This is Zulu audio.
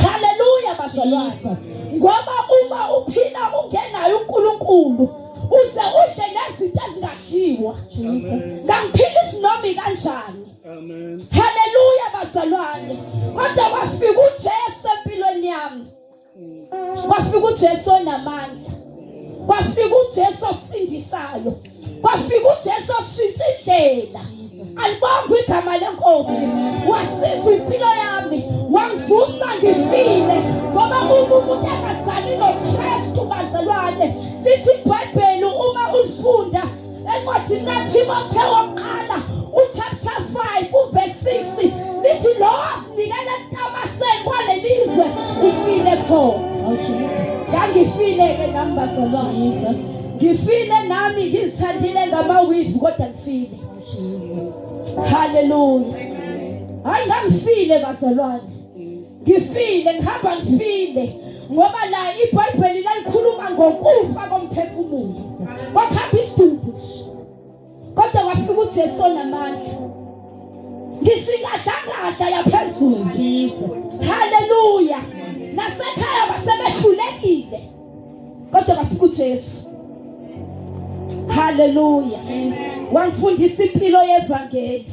Haleluya bazalwane. Ngoba uma uphila ungenayo uNkulunkulu uze udle nezinto ezingadliwa. Ngamphila isinomi kanjani? Amen. Haleluya bazalwane. Kodwa wafika uJesu empilweni yami. Wafika uJesu onamandla. Wafika uJesu osindisayo. kwafika uJesu washintsha indlela alibonga igama lenkosi wasiza impilo yami wangivusa ngifile ngoba uma umuntu engazali nokristu bazalwane lithi ibhayibheli uma ulifunda encwadini lathimotheo wokuqala uchapter 5 uverse 6 lithi lowo asinikela entamaseni kwaleli izwe ufile khona ngangifile-ke nami bazalwane ngifile nami ngizithandile ngamawivu kodwa ngifile haleluya hayi ngangifile bazalwane ngifile ngihamba ngifile ngoba la ibhayibheli lalikhuluma ngokufa komphefumulo wakhamba isidumbu kodwa wafika uJesu namandla ngisingadlangahla yaphezulu haleluya nasekhaya basebehlulekile kodwa bafika uJesu haleluya wangifundisa impilo yevangeli